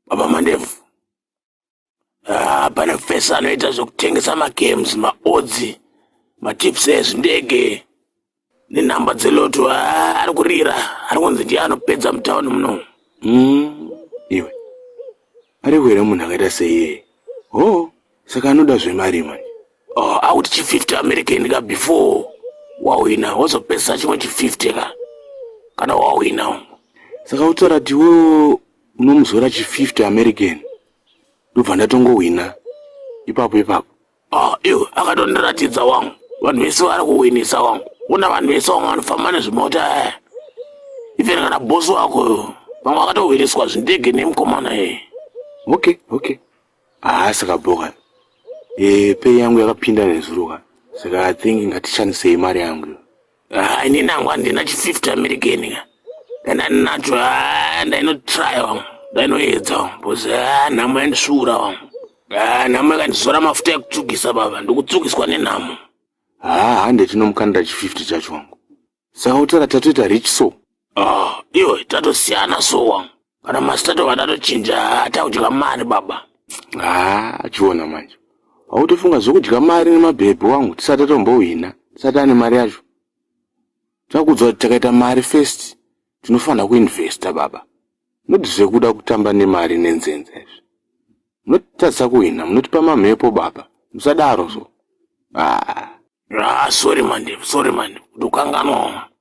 baba mandevu ah, pane fesi anoita zvekutengesa magames maodzi matips ezvindege nenhamba dzeloto ah, ari kurira ari kunzi ndiye anopedza mutauni muno mm, iwe ari kuhera munhu akaita seiyeye ho oh, saka anoda zvemari manje oh, akuti chi50 american ka before wawina wozopedzisa chimwe chi50 ka kana wawina saka utora tiwo unomuzora chi 50 american ndobva ndatongohwina ipapo ipapo ah iwe akatondiratidza wangu vanhu vese vari kuhwinisa wangu una vanhu vese wangu vanofamba nezvimota eh. even kana bosi wako vamwe vakatohwiniswa zvindege nemukomana e eh. okay okay haasi kabhoka e eh, pei yangu yakapinda nezuro ka saka i think ngatishandisei mari yangu iyo Ah, ini nangu handina chififty american ka kana ndinacho ah, ndainotrya wangu ndainoedza wangu bcause ah, nhamo yandisvuura wangu nhamo yakandizora mafuta ekutsvukisa baba ndikutsvukiswa nenhamo haa hande tinomukandira chififty chacho wangu saka utara tatoita rich so Ah, iwe tatosiyana so wangu. Kana masitatu vatatochinja takudya mari baba. Ah, achiona manje. Wautofunga zvokudya mari nemabhebhi wangu tisati atombohwina, tisati ane mari yacho. Takudzwa kuti takaita mari first, tinofanira kuinvesta baba. Not zvekuda kutamba nemari nenzenza izvi. Munotitadza kuhwina, munotipa mamhepo baba. Musadaro so. Ah. Ah, sorry mandevu, sorry mandevu. Ndokanganwa.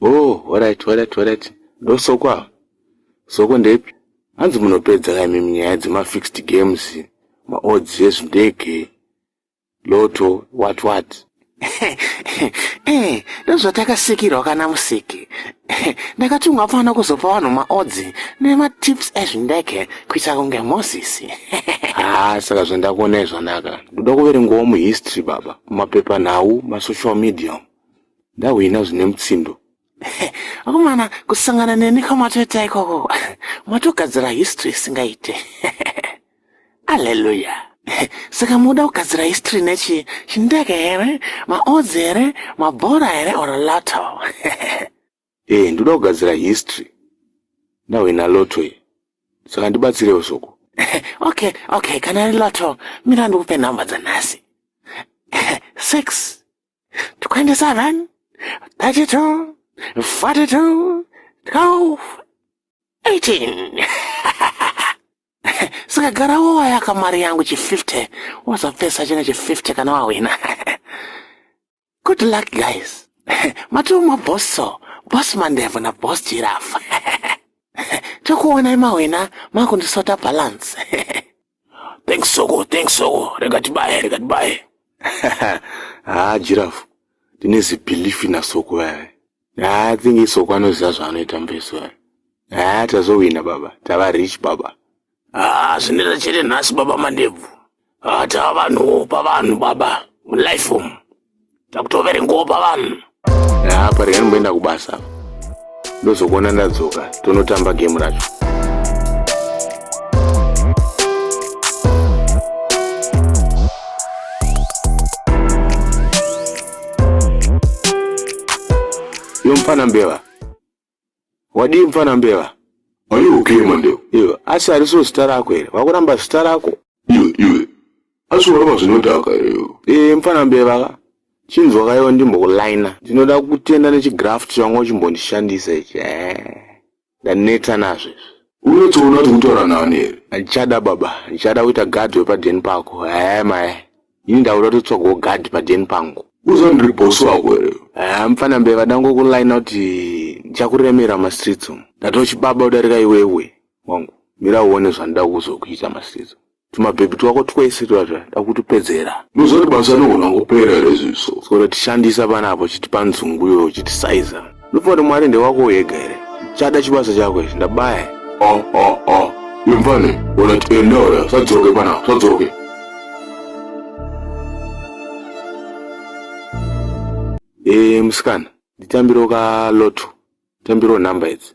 Oh, horaiti, horaiti, horaiti. Ndosoko ava. Soko ndepi? Hanzi munopedza ka imimi nyaya dzemafixed games, maodds ezvindege, loto, what what. Eh, ndozvatakasikirwa kana musiki. Ndakatumwa pano kuzopa vanhu maodzi nematips ezvindege kuita kunge Moses. Haa, saka zvandakuonai zvanaka. Ndoda kuverengawo muhistory baba, mumapepanhau, masocial media. ndahwina zvine mutsindo akomana kusangana neni kwamatoita ikoko matogadzira history isingaite alleluya saka muda kugadzira history nechi chindege here maodzi here mabhora here or loto Eh, ndoda kugadzira history. Now in a lotto here. Saka ndibatsire usoko. okay, okay, kana ri lotto, mira ndikupe number dzanhasi. Six. Twenty seven. Thirty two. Forty two. Twelve. Eighteen. Saka gara wowa yakamari yangu chi 50. Wazapesa chine chi 50 kana wawina. Good luck guys. Matuma bosso, boss Mandevo na boss Giraffe. Tokuonai mawena makundisota balance. thanks soko, thanks soko. Rega tibaye, rega tibaye. ah, Giraffe. Tine zibelief na soko vaye. Haa ah, think isoko anoziva zvaanoita mbeso yaa haa ah, tazowina baba tava rich baba haa ah, zvinoita chete nhasi baba mandebvu haa tava vanhuwo pavanhu baba mulife umu takutoverengawo pavanhu haa parega ndimboenda kubasa ndozokuona ndadzoka tonotamba gemu racho Yo mfana mbeva. Wadi mfana mbeva. Are you okay Mandeo? Yo, asi ariso zita rako here? Wakuramba zita rako? Yo, yo. Asi waramba zvinodhaka here yo? Eh, mfana mbeva ka. Chinzwa kayo ndimbokulina. Ndinoda kutenda nechigraft changu chimbondishandisa ichi. Eh. Ndaneta nazvo izvi. Unotoona kuti kutaura nani here? Handichada baba, ndichada kuita guard wepadeni pako. Ehe mai, ini ndakuda kutotsvagawo guard padeni pangu. Uza ndiri boss wako here? Ehe mfana mbeva, ndangokulaina kuti ndichakuremera mastreets umu. Ndatochibaba kudarika iwewe wangu. Mira uone zvandida kuzokuita mastreets umu. tumabhebhi twako twese twazva dakutupedzera ndozvati basa anogona kupera here zviso saka tishandisa panapo chitipa nzungu yo chitisaiza ndofunga kuti mwari ndewako uyega here chada chibasa chako ichi ndabaya ah, ah, ah. imvane ona tiendaoya sadzoke panapo sadzoke e eh, musikana nditambiro ka loto tambiro nhamba idzi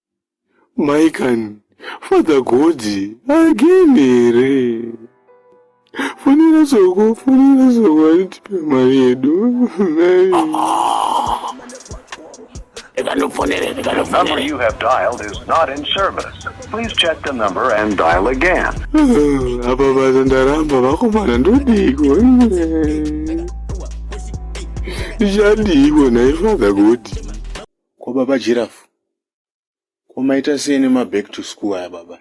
Maikan, Father Godzi again here? Fonera soko, fonera soko anitipe mari yedu. The number you have dialed is not in service. Please check the number and dial again. Apa basa ndaramba vakomana ndodiko. Zvadiko nhai Father Godzi? Kwababa Giraffe. Ko maita sei nema back to school aya baba?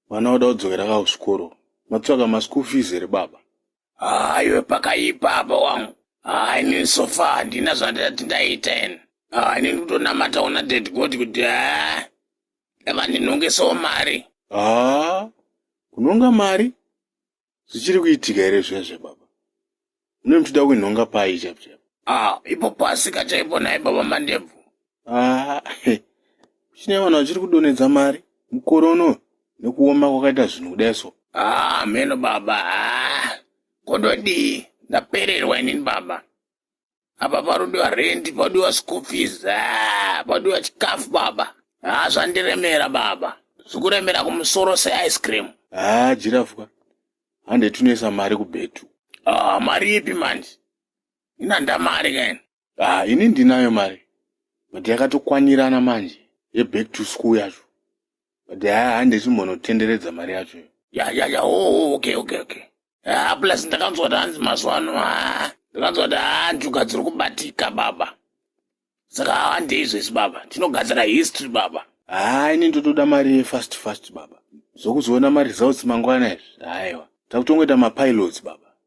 Vana voda kudzokera ka kuchikoro. Matsvaka ma school fees here baba? Haa iwe pakaipa apa wangu. Haa inini so far handina zvandati ndaita ini. Haa inini kutonamata kuna dead god kuti haa eva ndinongesewo mari. Haa kunonga mari? Zvichiri kuitika here zviya zvababa? Mune muchida kuinhonga pai chaipo chaipo? Ah, ipo pasi kachaipo naye baba Mandebvu. Ah, he. Chine vanhu vachiri kudonedza mari mukore uno nekuoma kwakaita zvinhu kudai so. Ah, mheno baba. Ah, kododii? Ndapererwa inini baba. apa panodiwa rendi panodiwa school fees ah, panodiwa chikafu baba haa ah, zvandiremera baba zvikuremera kumusoro seice cream haa ah, jirafwa hande tinoisa mari kubhetu haa mari ipi manje inanda mari kaini haa ini ndinayo mari but yakatokwanirana manje yeback to school yacho but haa ah, hande chimbonotenderedza mari yacho iyo ya ya ya o oh, oh, okay okay okay haa ah, plus ndakanzwa kuti hanzi mazuva ano haa ah, ndakanzwa kuti haa njuga dziri kubatika baba saka hande izvesi baba tinogadzira history baba haa ini ndotoda mari yefast fast baba zvokuzoona maresults mangwana izvi haiwa takutongoita mapilots baba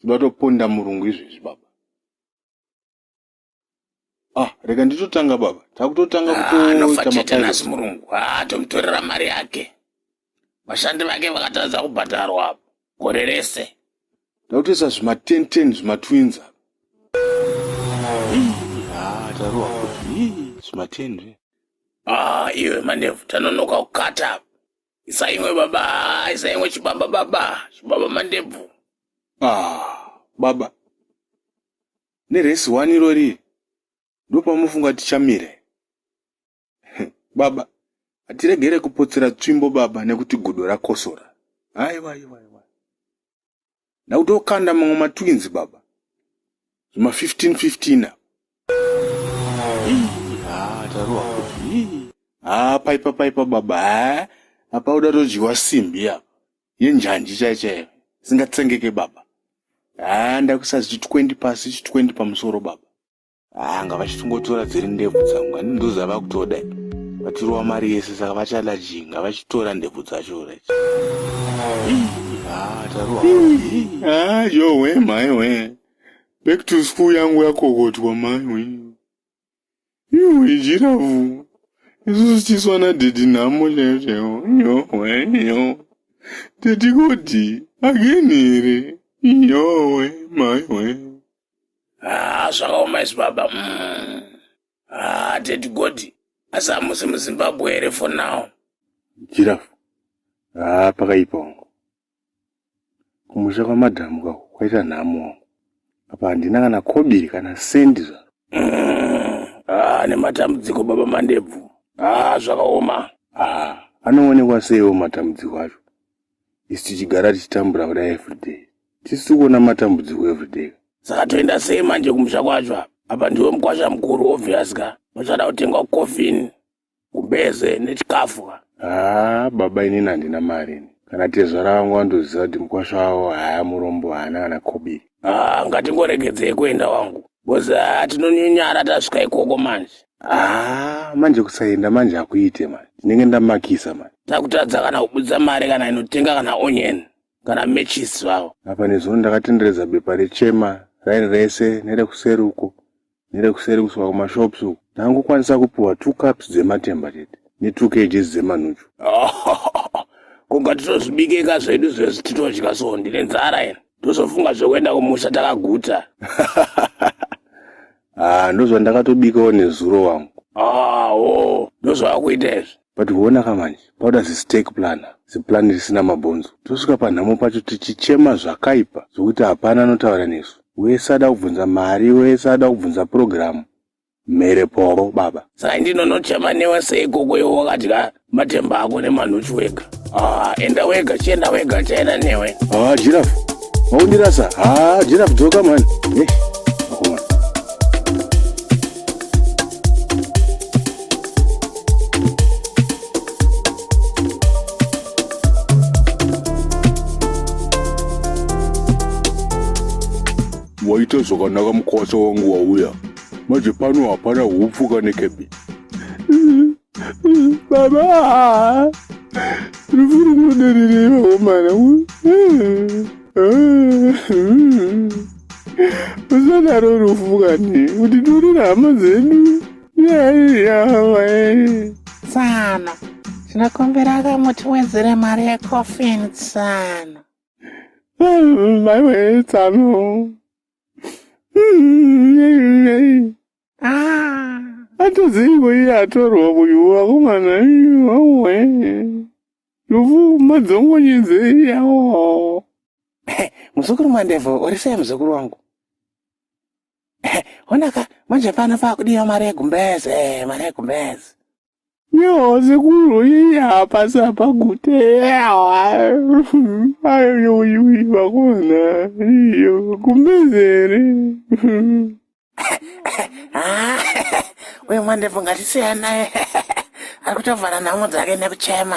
Toda toponda murungu izvezvi baba. Ah, rega nditotanga baba. Takutotanga ah, kutoita mafaiza. Nasi murungu. Ah, tomutorera mari yake. Vashandi vake vakatadza kubhadharwa apo. Gore rese. Takutoisa zvima 10 10 zvima twins apo. Ah, tarowa kuti. Zvima 10 zve. Ah, iwe mandevu tanonoka kukata apo. isa imwe baba isa imwe chibaba baba chibaba mandebvu ah baba neresi one irori ndopamufunga tichamire baba hatiregere kupotsera tsvimbo baba nekuti gudo rakosora aiwa aiwa ndakutokanda mamwe matwins baba zvima 15 15 apa ah, tarowa ah, paipa paipa baba ah, apa uda todyiwa simbi apa yenjanji chai chaiyo isingatsengeke baba haa ndakuisa zvichi 20 pasi zvichi 20 pamusoro baba anga vachitongotora dziri ndebvu dzangu ani ndoza vakutoda vatirova mari yese saka vachada jinga vachitora ndebvu dzacho ret yowe maiwe back to school yangu yakokotwa maiwe iwe jiravu isusu tiswa nadhedhi nhamo chaiyo chaiwo yowe yo tetikoti ageni here yowe maiwe haa zvakaoma isu baba mm. haa teti godi asi hamusi muzimbabwe here for now jirafu haa pakaipa wangu kumusha kwamadhamu ka kwaita nhamo wangu apa handina kana kobiri kana sendi zvaro mm. haa nematambudziko baba mandebvu haa zvakaoma haa anoonekwa seiwo matambudziko acho isu tichigara tichitambura kudai everyday tisi tikuona matambudziko everyday saka toenda sei manje kumusha kwacho apa apa ndiwe mukwasha mukuru obvious ka pachada kutengwa coffin kumbeze nechikafu ka haa baba inini handina mari ini kana tezvara vangu vandoziva kuti mukwasha wavo haya murombo haana kana kobiri haa ngatingoregedzei kuenda wangu bozi haa tinonyunyara tasvika ikoko manje Ah, manje kusaenda manje hakuite manje ndinenge ndamakisa manje takutadza kana kubudisa mari kana inotenga kana onion kana matches zvavo apa nezuro ndakatenderedza bepa rechema raini rese nerekuseri uko nerekuseri kusvika kumashops uko ndangokwanisa kupiwa two cups dzematemba chete netwo kgs dzemanuchu kunga titozvibikeka zvedu zvezvi titodya so ndine nzara ina ndozofunga zvekuenda kumusha takaguta Ah, ndozvandakatobikawo nezuro wangu. Ah, oh, ndozvawakuita izvi. But huona ka manje, pauda zistake plan, ziplan risina mabhonzo. Tosvika panhamo pacho tichichema zvakaipa zvokuti hapana anotaura nesu. Wese ada kubvunza mari, wese ada kubvunza purogiramu. Mhere poro, baba. Saka ndinonochema newe sei koko iwe wakadya? matemba ako nemanhuchu wega ah, enda wega chienda wega chaenda newe ah, jirafu maundirasa ah, jirafu dzoka mani eh, waita zvakanaka mukwasa wangu wauya manje pano hapana hupfuka nekebi baba rufu rinoderereva omana usadaro rufu kani kuti torera hama dzedu tsano tinokumbira ka mutiwedzere mari yecofin tsano maiwe tsano Atoziko iye atorwa uyu vakomana awe lufu madzongonyedze yawo muzukuru mandevu uri sei muzukuru wangu honaka manje pano pakudiwa mari yegumbeze mari yegumbeze Yo, sekuru iyi hapasi apa gute ayoyoyoi vakona iyo kumbezere uyu mwandepo ngatisiya naye ari kutovhara nhamo dzake nekuchema